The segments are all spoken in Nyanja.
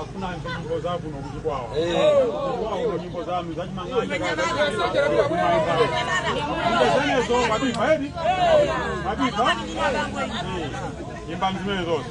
afuna anthu nyimbo zakuno kuti kwawo kwawo nyimbo zanu zachimang'anja zimenezo mabifa edi mabifa imbani zimene zonse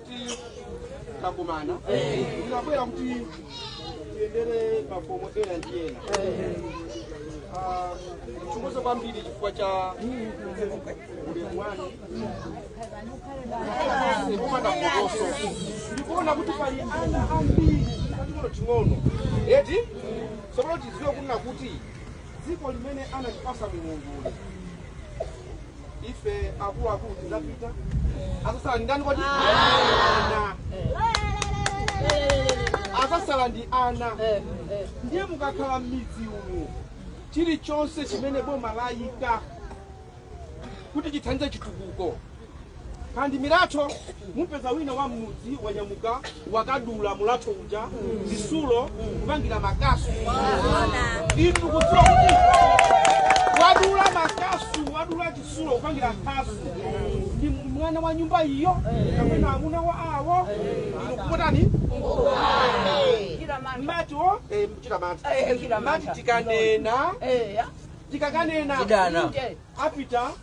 takumana ndinabwera kuti tiyendere makomo ena ndi ena chikuzo kwambiri chifukwa cha ulemu wanu kumana kokoso ndikuona kuti pali ana ambiri ating'onoting'ono eti tsopano tiziwe kunena kuti dziko limene anatipasa mulungu ife akuluakulu tidzapita azasala ndi ndani kodi si ana azasala ndi ana ndiye mukakhala m'midzi umu chilichonse chimene boma layika kuti chithandize chitukuko kaya ndi milatho mupeza wina wa mmudzi wanyamuka wakadula mulatho uja zisulo kupangira makasu inu kudziwa kuti wadula makasu wadula zisulo kupangira khasu ndi mwana wa nyumba iyo kapena amuna wa awo inu kupotani mati o eh, mumati mati tikanena tikakanena Tidana apita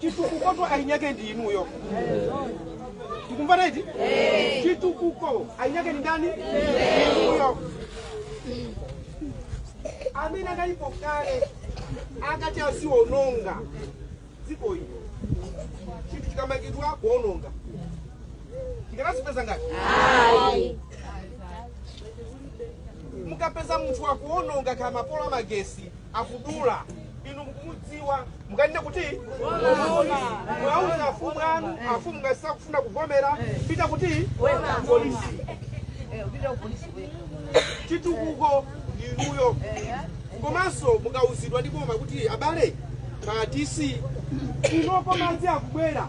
chitukukotu eni ake ndi inuyo tikumvana eti chitukuko eni ake ndi ndani inuyo amene akalipo kale akati aziononga dziko ino chinthu chikamangidwa kuononga tikadzaipeza ngati mukapeza munthu akuononga kaya mapolo a magesi akudula inu mukumudziwa mukanene kuti muwauze afumu anu afumu ngati sakufuna kuvomera pitani ku polisi chitukuko ndinuyo komanso mukauzidwa ndi boma kuti abale ma dc kunoko madzi akubwera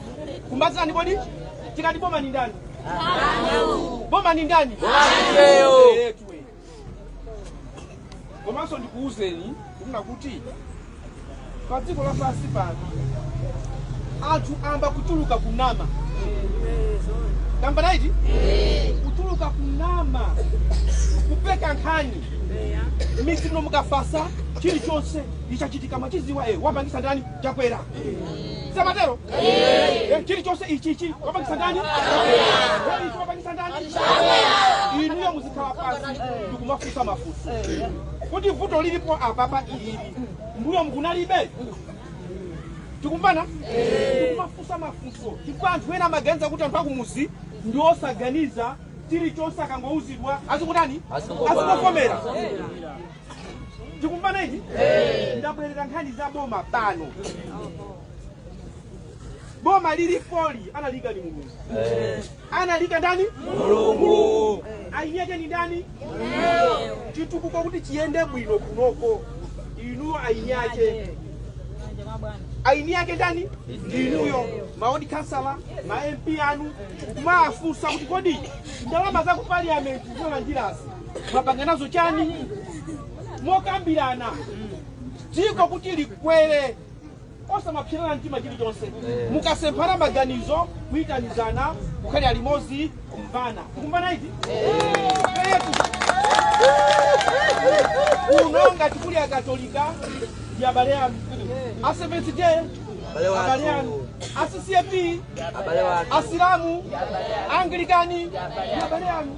ndikumbutseni kodi tikati boma ni ndani boma ni ndani Ehe, tuwe. komanso ndikuwuzeni kunena kuti pa dziko lapansi pano anthu ayamba kutuluka kunama tikumvana eti kutuluka kunama kupeka nkhani m'midzi muno mukafatsa chilichonse chikachitika mumachidziwa e wapangisa ndani Chakwera samatero Eh, chilichonse ichi ichi wapangisa ndani Eh, ichi wapangisa ndani inuyo muzikhala pansi ndikumafunsa mafunso kuti vuto lilipo apapa ili mbuyo mkunalibe tikumvana tikumafunsa mafunso chifukwa anthu ena amaganiza kuti anthu akumudzi ndi osaganiza chilichonse akangouzidwa azikutani azikuvomera tikumvana ichi ndabwerera nkhani za boma pano boma lilipoli analiika ndi mulungu analiika ndani mulungu eni ake ndi ndani chitukuko kuti chiyende bwino kunoko inuyo eni ake eni ake ndani ndinuyo ma ward khansala ma mp anu kumafunsa kuti kodi ndalama za ku parliament zolandirazi mwapanga nazo chani mokambirana dziko kuti likwere osamapsirana mtima chilichonse mukasemphana maganizo kuyitanizana kukhalira limodzi kumvana kumvana eti kuno ngati kuli akatolika ndi abale anu aseventh day abale anu a ccap asilamu anglikani ndi abale anu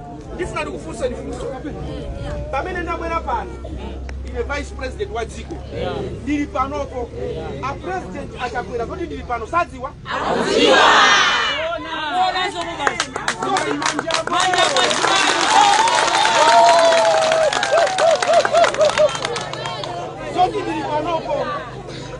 ndifuna ndikufunseni funso pamene ndabwera pano ine vice president wa dziko ndili panopo a president achakwera zoti ndili pano sadziwa zoti ndili panopo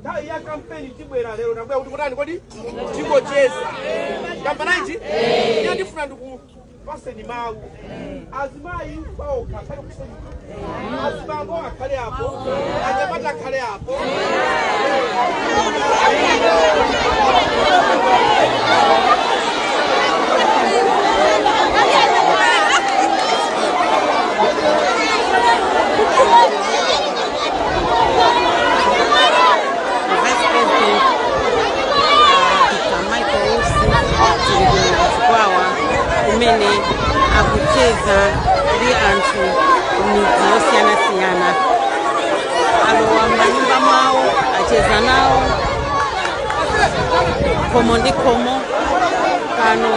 nthawi ya kampeni tibwera lero ndabwera kuti kotani kodi tingocheza kampananji ine ndifuna ndikupaseni mawu azimayi paokha akhale kuseni azibambo akhale apo anyamata akhale apo kumene akucheza ndi anthu kumidzi yosiyanasiyana alowa m'manyumba mwawo acheza nawo khomo ndi khomo pano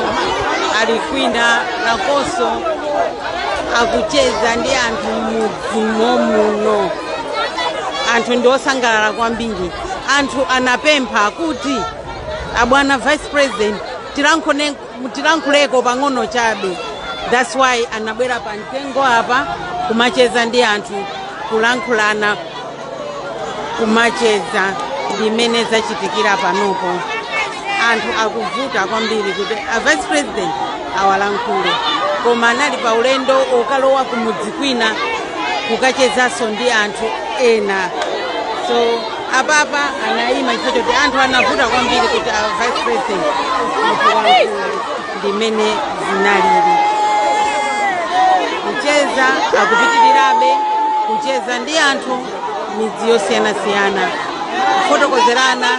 ali kwina nakonso akucheza ndi anthu m'mudzi m'dziko muno anthu ndi osangalala kwambiri anthu anapempha kuti abwana vice president tilankhuleko pang'ono chabe thats why anabwera pa mtengo apa kumacheza ndi anthu kulankhulana kumacheza ndi zimene zachitikira panopo anthu akuvuta kwambiri kuti a vice president awalankhule koma anali pa ulendo okalowa kumudzi kwina kukachezanso ndi anthu ena so apapa anayima chifukwa choti anthu anavuta kwambiri kuti a vice president awalankhule ndi mmene zinalili. Kucheza kukupitirirabe kucheza ndi anthu midzi yosiyanasiyana, kufotokozerana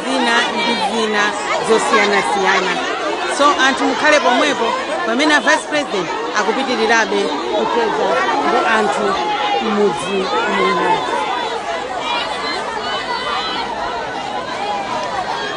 zina ndi zina zosiyanasiyana. So anthu mukhale pomwepo pamene a vice president akupitirirabe kucheza ndi anthu m'mudzi muno.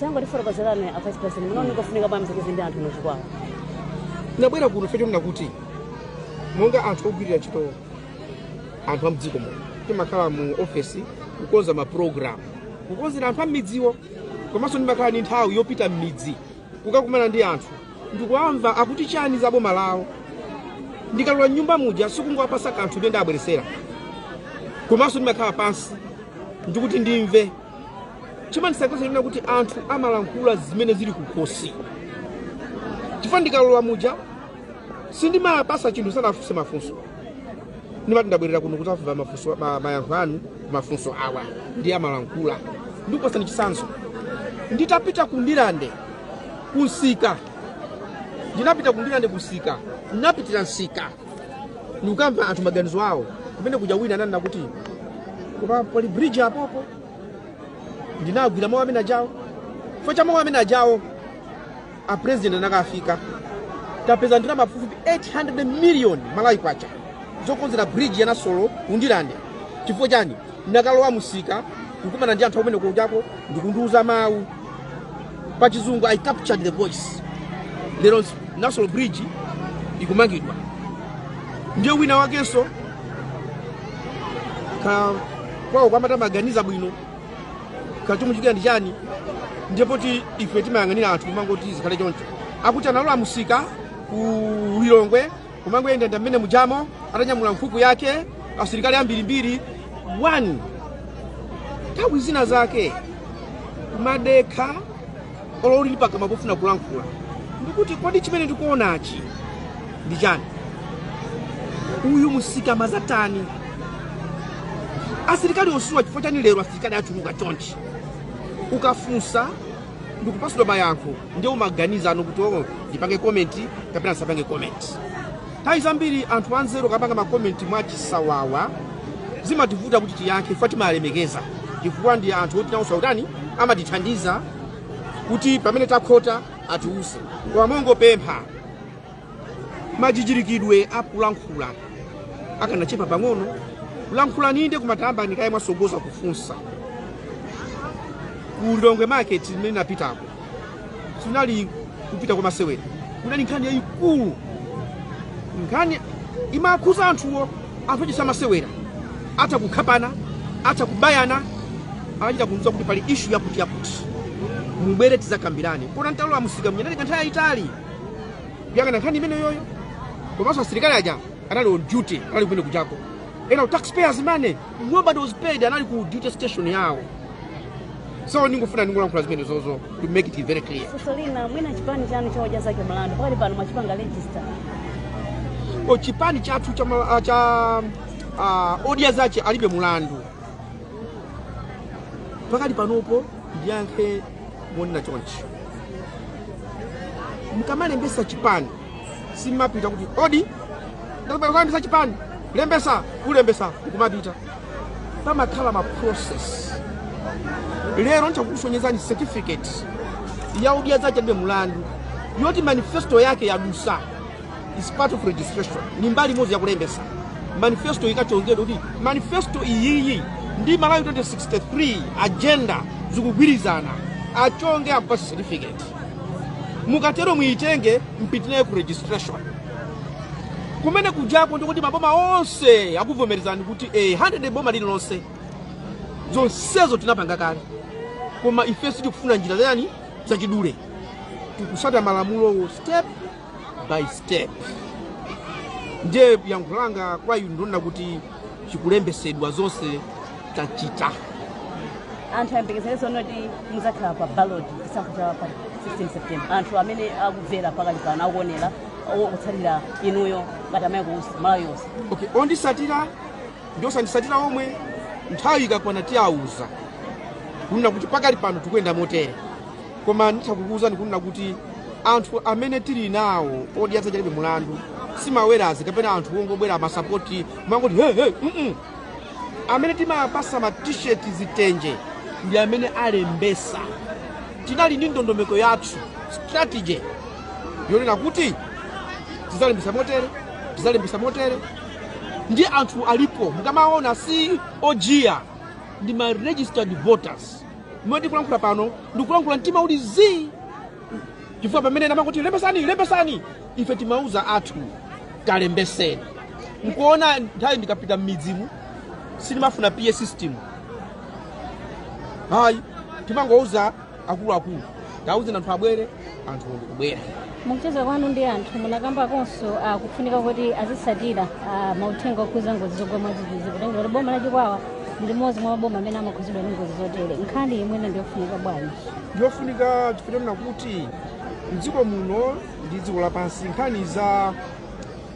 tangotifotokozerani a vice president munaona kufunika bwanji kucheza ndi anthu mu Chikwawa tinabwera kuno chifukwa chonena kuti monga anthu ogwirira ntchito anthu amdziko muno timakhala mu ofesi kukonza maprogramu kukonzera anthu ammidziwo komanso ndimakhala ndi nthawi yopita mmidzi kukakumana ndi anthu ndikuwamva akuti chani za boma lawo ndikalowa m'nyumba muja sikungowapasa kanthu kamene ndabweretsera komanso ndimakhala pansi ndikuti ndimve chimandisangalatsa n'chakuti anthu amalankhula zimene zili kukhosi chifukwa ndikalowa muja sindimawapatsa chinthu ndisanawafunse mafunso ndimati ndabwerera kuno kuti ndimve ma- mayankho anu a mafunso awa ndiye amalankhula ndikupatsani chitsanzo nditapita ku ndilande kunsika ndinapita ku ndilande kunsika ndinapita mu nsika ndikukamva anthu maganizo awo kumene kuja wina ananena kuti koma palibe bridge apapa ndinagwira mawu amene ajawo chifukwa cha mawu amene ajawo a president ndi ine tapeza ndalama pafupi 800 million malawi kwacha zokonzera bridge ya nasolo ku ndilande chifukwa chani ndinakalowa mumsika kukumana ndi anthu akumeneko ndikundiuza mawu pa chizungu i captured the voice lero nasolo bridge ikumangidwa ndiye wina wakenso kaya kwawo kamati kamaganiza bwino akachita mu msika ndi chani ndiye poti ife timayang'anira anthu kumangoti zikhale choncho akuti analowa mumsika ku lilongwe kumangoyendayenda mmene mujamo atanyamula nkhuku yake asilikali ambirimbiri oo nthawi zina zake kumadekha olo uli ndi pakamwa pofuna kulankhula ndikuti kodi chimene ndikuonachi ndi chani uyu musika amazatani asilikali onsewa chifukwa chani lero asilikali achuluka chonchi ukafunsa ndikupasidwa mayankho ndiye umaganiza no kuti oo ndipange komenti kapena ndisapange komenti nthawi zambiri anthu anzeru akapanga makomenti mwachisawawa zimativuta kuti tiyankhe chifukwa timalemekeza chifukwa ndi anthu oti nawonso akutani amatithandiza kuti pamene takhota atiwuze koma mongopempha majijirikidwe akulankhula akanachepa pang'ono lankhulani inde koma tayambani kaye mwasogoza kufunsa ku lilongwe market kumene napitako sinali kupita kwa masewera kunali nkhani yayikulu nkhani imakhuza anthuwo anthu ochititsa masewera atha kukhapana atha kubayana anachita kumva kuti pali ishu yakuti yakuti mubwere tizakambirane kuona ntchito ya musika mnyeneleka nthawi yayitali kuyang'ana nkhani imeneyoyo komanso asilikali aja anali on duty anali kumene kujako ena taxpayers money nobody was paid anali ku duty station yawo so ndingofuna ndingolankhula zimene zozo to make it very clear funso lina mwina chipani chanu cha odya zake alibe mulandu pakati pano mwachipanga register eh chipani chathu cha, ma- cha uh, odya zake alibe mulandu pakati panopo ndiyankhe monena chonchi mukamalembesa chipani simapita kuti odi ndalembesa chipani lembesa kulembesa kumapita pamakhala ma process lero nditha kukusonyezani certificate ya odya zake alibe mulandu yoti manifesto yake yadusa is part of registration ni mbali imodzi yakulembesa manifesto ikachongedwa kuti manifesto iyiyi ndi malawi 2063 agenda zikugwirizana achonge akupasa certificate mukatero muyitenge mupite nayo ku registration kumene kujako ndi kuti maboma onse akuvomerezani kuti eh, 100 boma lililonse zonsezo tinapanga kale koma ife sitikufuna njira zotani zachidule tikusata malamulowo step by step ndiye yankho langa kwa inu ndi lonena kuti chikulembesedwa zonse tachita anthu ayembekezere zoona kuti muzakhala pa ballot chisankho cha pa 16 september anthu amene akubvera pakali pano akuonera akutsatira inuyo ngati amayi kuuza malawi yonse okay ondisatira ndi osandisatira omwe nthawi ikakwana tiawuza kunena kuti pakali pano tikuyenda motere koma nditha kukuwuzani kunena kuti anthu amene tili nawo odya zake alibe mulandu si ma wheras kapena anthu ongobwera masapoti kumangoti hehe mm -mm. amene timawapasa ma t-shirt zitenje ndi amene alembesa tinali ndi ndondomeko yathu strategy yonena kuti tizalembesa motere tizalembesa motere ndi anthu alipo mukamaona si ojiya ndi ma registered voters mmene ndikulankhula pano ndikulankhula mtima uli zii chifukwa pamene ena amakuti lembesani lembesani ife timauza athu kalembeseni nkuona nthawi ndikapita m'midzimu sindimafuna PA system hayi timangowauza akuluakulu tauzani anthu abwere anthu ndikubwera mukucheza kwanu ndi anthu munakambakonso uh, kufunika kuti azisatira uh, mauthenga okhuza ngozi zogwa mwadzidzidzi kutengera kuti boma la chikwawa ndi limodzi mwa maboma amene amakhuzidwa ndi ngozi zotere nkhani imeneyi ndi yofunika bwanji ndiyofunika chifukwa chonena kuti mdziko muno ndi dziko lapansi nkhani za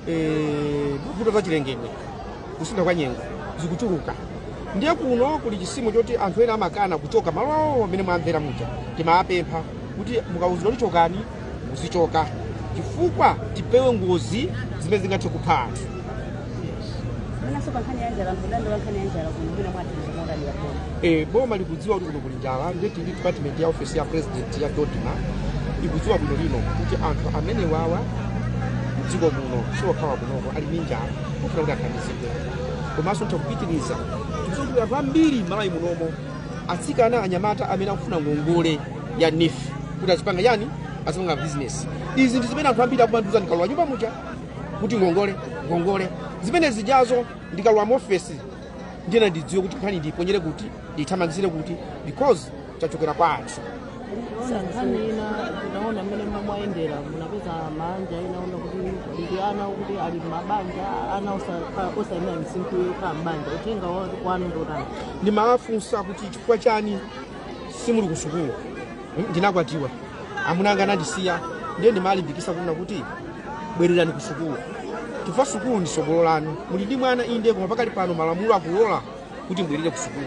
eh, mavuto za chilengedwe kusintha kwa nyengo zikuchuluka ndiye kuno kuli chizimu choti anthu ena amakana kuchoka malo awo amene mwamvera muja timawapempha kuti mukawuzidwa kuti chokani muzichoka chifukwa tipewe ngozi zimene zingathe kupha anthu Mwinanso pa nkhani ya njala m'dandaulo wa nkhani ya njala kuno mwina mwathandiza motani yakona. e, boma likudziwa kuti kuno kuli njala ndipo ndi department ya ofesi ya president ya dodma ikudziwa bwinolino kuti anthu amene wawa mdziko muno siwokhawa kunoko ali ndi njala ofuna kuti athandizidwe komanso tikupitiriza kuti anthu ambiri Malawi munomo atsikana anyamata amene akufuna ngongole ya NEEF kuti azipanga chani azipanga business izi ndi zimene anthu ambiri akumandiuza ndikalowa nyumba muja kuti ngongole ngongole zimene zijazo ndikalowa muofesi ndiyeno ndidziwe kuti nkhani ndiyiponyere kuti ndiyithamangizire kuti because chachokera kwa anthu kuona nkhani ina tinaona mmene mwayendera munapeza maanja ena oona kuti ndi ana kuti ali mabanja ana osa- osayenera misinkhu yokhala m'banja uthenga wa- wanu ndi otani ndimawafunsa kuti chifukwa chani simuli ku sukulu Mm, ndinakwatiwa amuna anga anandisiya ndiye ndimalimbikisa kunena kuti bwererani ku sukulu chifukwa sukulu ndi sogolo lanu muli ndi mwana inde koma pakali pano malamulo akulola kuti mbwerere ku sukulu